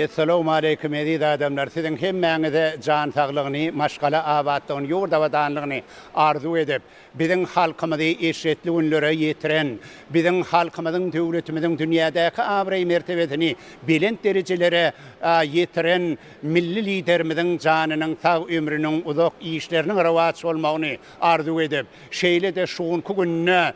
Essalawmaleýkim eziz adamlar siziň hemmäňize jan saglygyny maşgala abatlygyny ýurt abadanlygyny arzuw edip Biziň halkymyzy eşretli günlere ýetiren, biziň halkymyzyň, döwletimiziň dünýädäki abraý-mertebesini belent derejelere ýetiren Milli Liderimiziň janynyň sag, ömrüniň uzak, işleriniň rowaç bolmagyny arzuw edip, şeýle-de şu günki günde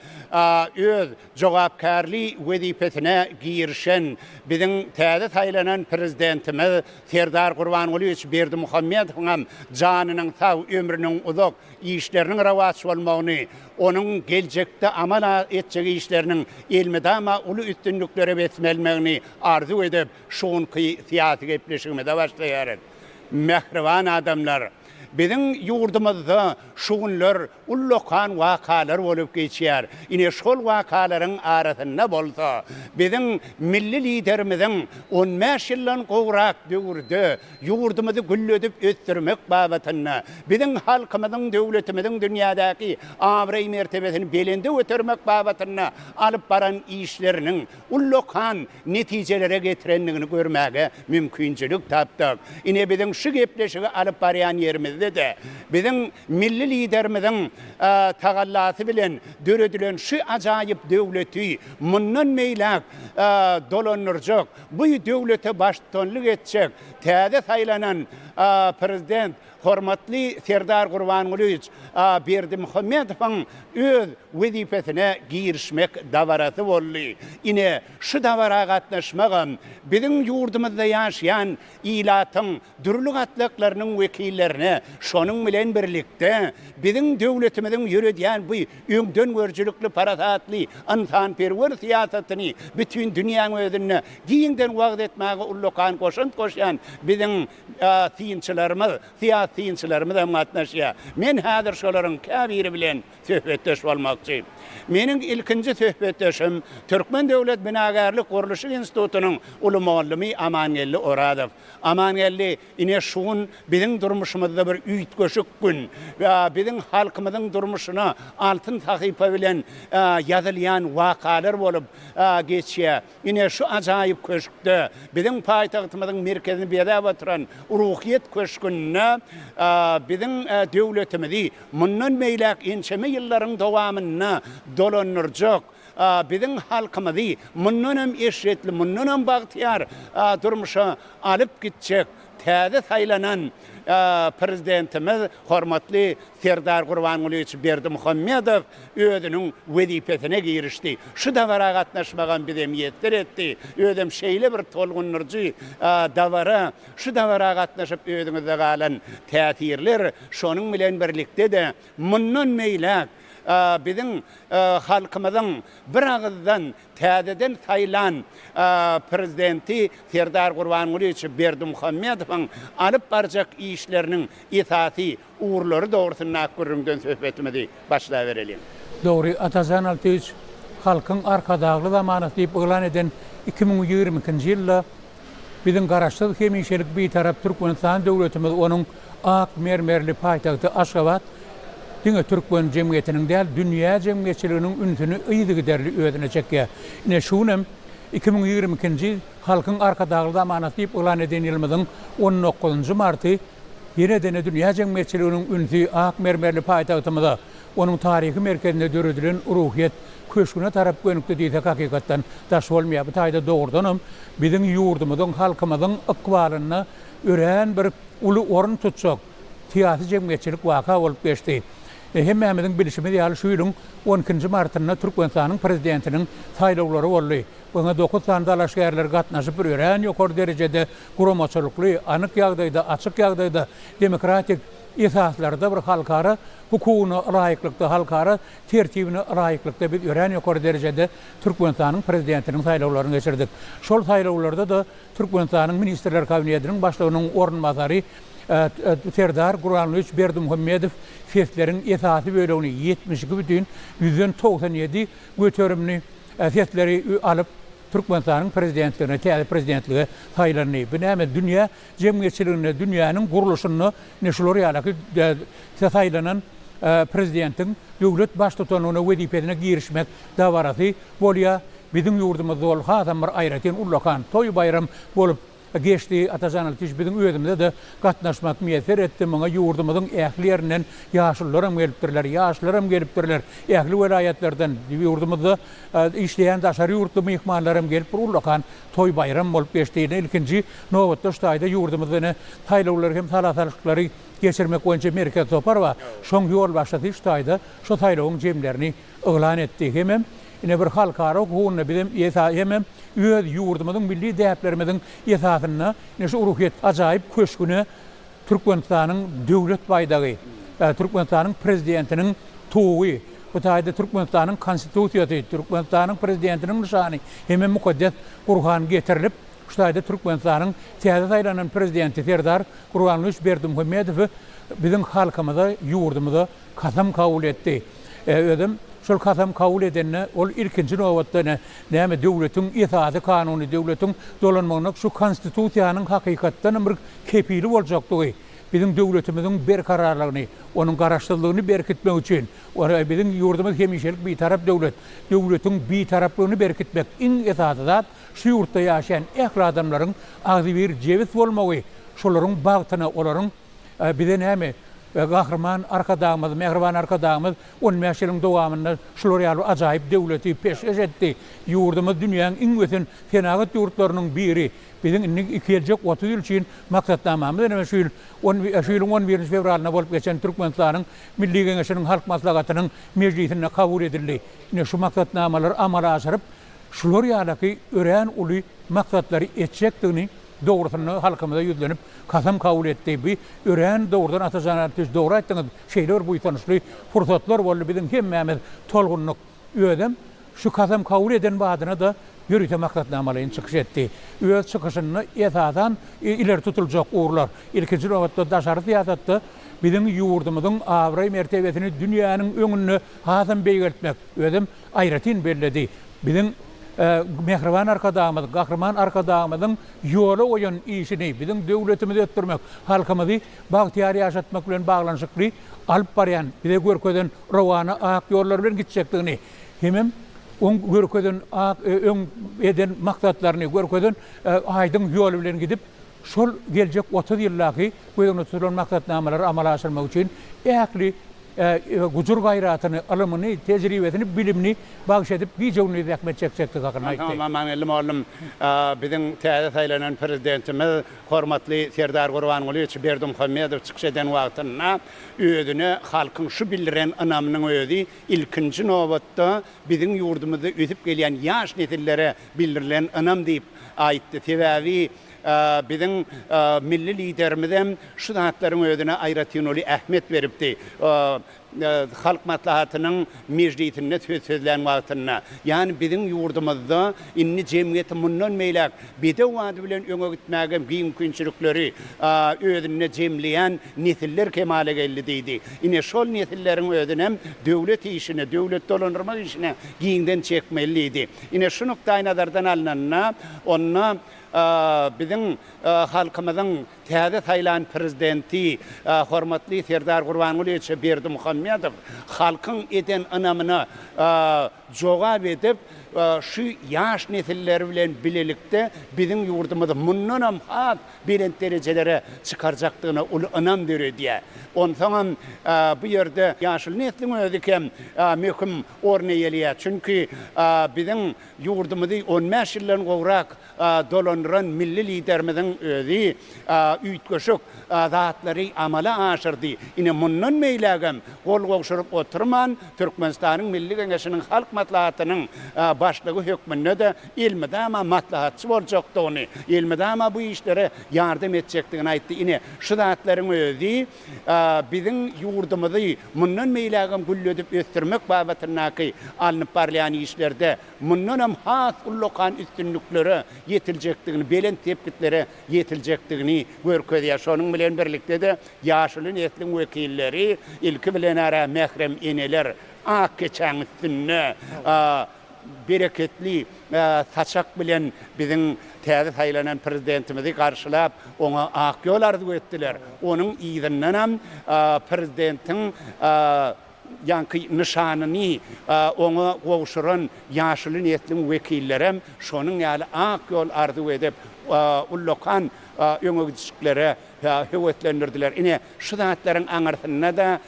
öz jogapkärli wezipesine girişen biziň täze saýlanan Prezidentimiz Serdar Gurbangulyýewiç Berdimuhamedowyňam janynyň sag, ömrüniň uzak, işleriniň rowaç bolmagyny, onuň geljekde amal etjek işleriniň elmydama uly üstünliklere besmelmegini arzuw edip, şu günki syýasy gepleşigimize başlaýarys. Mähriban adamlar! Biziň ýurdumyzda şu günler ullakan wakalar bolup geçýär. Ine, şol wakalaryň arasynda bolsa, biziň Milli Liderimiziň on bäş ýyldan gowrak döwürde Ýurdumyzy gülledip ösdürmek babatynda, biziň halkymyzyň, döwletimiziň dünýädäki abraý-mertebesini belende götermek babatynda alyp baran işleriniň ullakan netijelere getirendigini görmäge mümkinçilik tapdyk. Ine, biziň şu gepleşigi alyp barýan ýerimizde-de, biziň Milli Liderimiziň tagallasy bilen döredilen şu ajaýyp döwleti mundan beýläk dolandyrjak, Bu döwlete baştutanlyk etjek täze saýlanan Prezident hormatly Serdar Gurbangulyýewiç Berdimuhamedowyň öz wezipesine girişmek dabarasy boldy. Ine, şu dabara gatnaşmagam biziň ýurdumyzda ýaşaýan ilatyň dürli gatlaklarynyň wekillerine, şonuň bilen birlikde, biziň döwletimiziň ýöredýän bu öňdengörüjilikli, parasatly, ynsanperwer syýasatyny bütin dünýäň özünde giňden wagyz etmäge ullakan goşant goşýan biziň synçylarymyz, syýasy synçylarymyz hem gatnaşýar. Men häzir şolaryň käbiri bilen söhbetdeş bolmakçy. Meniň ilkinji söhbetdeşim, Türkmen döwlet binagärlik-gurluşyk institutynyň uly mugallamy Amangeldi Orazow. Amangeldi ine şu gün biziň durmuşymyzda bir üýtgeşik gün. Biziň halkymyzyň durmuşyna altyn sahypa bilen ýazylýan wakalar bolup geçýär. Ine şu ajaýyp köşkde, biziň paýtagtymyzyň merkezini bezäp oturan Ruhyýet köşgünde biziň döwletimizi mundan beýläk ençeme ýyllaryň dowamynda dolandyrjak, biziň halkymyzy mundan hem eşretli, mundan hem bagtyýar durmuşa alyp gitjek täze saýlanan Prezidentimiz, hormatly Serdar Gurbangulyýewiç Berdimuhamedow özüniň wezipesine girişdi. Şu dabara gatnaşmagam bizi miýesser etdi. Özem şeýle bir tolgundyryjy dabara. Şu dabara gatnaşyp özüňizde galan täsirler, şonuň bilen birlikde-de, mundan beýläk, biziň halkymyzyň biragyzdan täzeden saýlan Prezidenti Serdar Gurbangulyýewiç Berdimuhamedowyň alyp barjak işleriniň esasy ugurlary dogrusyndaky gürrüňden söhbetimizi başlabereliň. Dogry, Atajan Altyýewiç Halkyň Arkadagly zamanasy diýip yglan eden iki müň ýigrimi ikinji ýylda Biziň Garaşsyz, hemişelik Bitarap Türkmenistan döwletimiz, onuň ak mermerli paýtagty Aşgabat diňe türkmen jemgyýetiniň däl, dünýä jemgyýetçiliginiň ünsüni yzygiderli özüne çekýär. Ine, şu günem iki müň ýigrimi ikinji ýyl Halkyň Arkadagly zamanasy diýip yglan eden ýylymyzyň on dokuzynjy marty. Ýene-de dünýä jemgyýetçiliginiň ünsi ak mermerli paýtagtymyza, onuň taryhy merkezinde döredilen Ruhyýet köşgüne tarap gönükdi diýsek hakykatdan daş bolmaýar. Bu taýda dogrudanam biziň ýurdumyzyň, halkymyzyň ykbalynda örän bir uly orun tutjak syýasy-jemgyýetçilik waka bolup geçdi. Hemmämiziň bilşimiz ýaly şu ýylyň on ikinji martynda Türkmenistanyň prezidentiniň saýlawlary boldy. Oňa dokuz sany dalaşgärler gatnaşyp, örän ýokary derejede guramaçylykly, anyk ýagdaýda, açyk ýagdaýda, demokratik esaslarda bir halkara hukugyna laýyklykda, halkara tertibine laýyklykda biz örän ýokary derejede Türkmenistanyň Prezidentiniň saýlawlaryny geçirdik. Şol saýlawlarda-da Türkmenistanyň Ministrler Kabinetiniň başlygynyň orunbasary Serdar Gurbangulyýewiç Berdimuhamedow sesleriň esasy bölegini, ýetmiş iki bütin ýüzden togsan ýedi göterimini, Sesleri alyp Türkmenistanyň prezidentligine, täze prezidentlige saýlandy. Bu näme dünýä jemgyýetçiliginde, dünýäniň gurluşynda ine şular ýaly saýlanan prezidentiň döwlet baştutanlygyna wezipesine girişmek dabarasy bolýar. Biziň ýurdumyzda ol hasam bir aýratyn ullakan toý-baýram bolup Geçdi Atajan Ilkiç biziň özümize-de gatnaşmak miýesser etdi, muňa ýurdumyzyň ähli ýerinden ýaşulularam gelipdirler, ýaşlaram gelipdirler, ähli welaýatlardan, ýurdumyzda işleýän daşary ýurtly myhmanlaram gelip bir ullakan toý-baýram bolup geçdi. Ine ilkinji nobatda şu taýda ýurdumyzda ine saýlawlary hem sala salşyklary geçirmek boýunça merkezi topar bar, şoň ýolbaşçysy şu taýda şu saýlawyň jemlerini yglan etdi hemem ine bir halkara hukugynda bizem hemem öz ýurdumyzyň milli däplerimiziň esasynda ine şu ruhyýet ajaýyp köşgüne Türkmenistanyň Döwlet baýdagy, Türkmenistanyň Prezidentiniň Tugy, bu taýda Türkmenistanyň Konstitusiýasy, Türkmenistanyň Prezidentiniň nyşany hemem mukaddes Gurhan getirilip, şu taýda Türkmenistanyň täze saýlanan Prezidenti Serdar Gurbangulyç Berdimuhamedowy biziň halkymyza, ýurdumyza Kasam kabul etdi. Özem şol kasam kabul edende ol ilkinji nobatda ine, näme döwletiň esasy kanuny, döwletiň dolanmagyna şu Konstitusiýanyň hakykatdanam bir kepili boljakdygy, biziň döwletimiziň berkararlygyny, onuň garaşsyzlygyny berkitmek üçin, biziň ýurdumyz hemişelik Bitarap döwlet, döwletiň Bitaraplygyny berkitmek, iň esasy zat şu ýurtda ýaşaýan ähli adamlaryň agzybir, jebis bolmagy, şolaryň bagtyna, olaryň. Bize näme, Gahryman Arkadagymyz, Mähriban Arkadagymyz on bäş ýylyň dowamynda şular ýaly ajaýyp döwleti peşgeş etdi. Ýurdumyz dünýäň iň ösen senagat ýurtlarynyň biri. Biziň indi geljek otuz ýyl üçin maksatnamamyz näme? Şu ýyl, şu ýylyň on birinji fewralynda bolup geçen Türkmenistanyň Milli Geňeşiniň Halk Maslahatynyň mejlisinde kabul edildi. Ine, şu maksatnamalary amala aşyryp, şular ýalyky örän uly maksatlary etjekdigini Dogrusynda halkymyza ýüzlenip kasam kabul etdi. Bu örän dogrudan Atajan Artiş dogry aýtdyňyz. Şeýle bir buýsançly pursatlar boldy biziň hemmämiz tolgundyk. Özem şu kasam kabul eden badyna-da ýörite maksatnamalaýyn çykyş etdi. Öz çykyşynda esasan ileri tutuljak ugurlar, ilkinji nobatda daşary syýasatda biziň ýurdumyzyň abraý-mertebesini dünýäniň öňünde hasam beýgeltmek, özem aýratyn belledi. Biziň Mähriban Arkadagymyz, Gahryman Arkadagymyzyň ýola goýan işini, biziň döwletimizi ösdürmek, halkymyzy bagtyýar ýaşatmak bilen baglanyşykly alyp barýan, bize görkezen rowana ak ýollary bilen gitjekdigini hemem oň görkezen ak, öň eden maksatlaryny, görkezen aýdyň ýoly bilen gidip, Şol geljek otuz ýyldaky göz öňünde tutulan maksatnamalary amala aşyrmak üçin ähli gujur-gaýratyny, ylymyny, tejribesini, bilimini bagyş edip, gije-gündiz zähmet çekjekdigi hakynda aýtdy. Onsoň Amagelli mollum biziň täze saýlanan Prezidentimiz, hormatly Serdar Gurbangulyýewiç Berdimuhamedow çykyş eden wagtynda özüne halkyň şu bildiren ynamynyň özi ilkinji nobatda biziň ýurdumyzda ösüp gelýän ýaş nesillere bildirilen ynam diýip aýtdy. Sebäbi, Biziň milli Liderimizem şu zatlaryň özüne aýratyn uly ähmiýet beripdi. Halk Maslahatynyň mejlisinde söz sözlän wagtynda, ýany biziň ýurdumyzda indi jemgyýeti mundan beýläk bedew ady bilen öňe gitmäge giň mümkinçilikleri özünde jemleýän nesiller kemala geldi diýdi. Ine, şol nesilleriň özünem döwlet işine, döwleti dolandyrmak işine giňden çekmeli diýdi. Ine, şu nukdaýnazardan alnanda, onda, Biziň halkymyzyň täze saýlan Prezidenti hormatly Serdar Gurbangulyýeçe Berdimuhamedow halkyň eden ynamyna jogap edip, şu ýaş nesilleri bilen bilelikde biziň ýurdumyzy mundanam has belent derejelere çykarjakdygyna uly ynam döredýär. Onsoňam bu ýerde ýaşuly nesliň özi hem möhüm orun eýeleýär. Çünki biziň Ýurdumyzy on bäş ýyldan gowrak dolandyran milli Liderimiziň özi üýtgeşik zatlary amala aşyrdy. Ine, mundan beýlägem gol gowşuryp oturman, Türkmenistanyň Milli Geňeşiniň Halk Maslahatynyň Başlygy hökmünde-de elmydama maslahatçy boljakdygyny, elmydama bu işlere ýardam etjekdigini aýtdy. Ine, şu zatlaryň özi biziň ýurdumyzy mundan beýlägem gülledip ösdürmek babatyndaky alnyp barylýan işlerde mundanam has ullakan üstünliklere ýetiljekdigini, belent sepgitlere ýetiljekdigini görkezýär. Şonuň bilen birlikde-de, ýaşuly nesliň wekilleri, ilki bilen-ä, mährem eneler ak keçäň üstünde bereketli saçak bilen biziň täze saýlanan Prezidentimizi garşylap, oňa ak ýol arzuw etdiler. Onuň yzyndanam Prezidentiň ýaňky nyşanyny oňa gowşuran ýaşuly nesliň wekillerem şonuň ýaly ak ýol arzuw edip, ullakan öňegidişliklere höweslendirdiler. Ine, şu zatlaryň aňyrsynda-da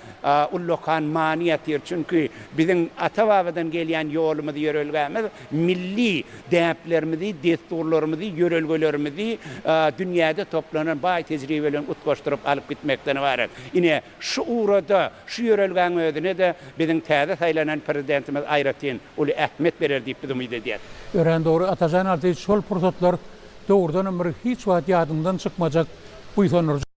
ullakan many ýatyr. Çünki biziň ata-babadan gelýän ýolumyz, ýörelgämiz milli däplerimizi, dessurlarymyzy, ýörelgelerimizi dünýäde toplanan baý tejribelerini utgaşdyryp alyp gitmekden ybarat. Ine, Şu ugrada şu ýörelgäň özüne-de biziň täze saýlanan Prezidentimiz aýratyn uly ähmiýet berer diýip biz umyt edýäris. Örän dogry Atajan Artyç şol pursatlar dogrudanam bir hiç wagt ýadyňdan çykmajak buýsandyryjy.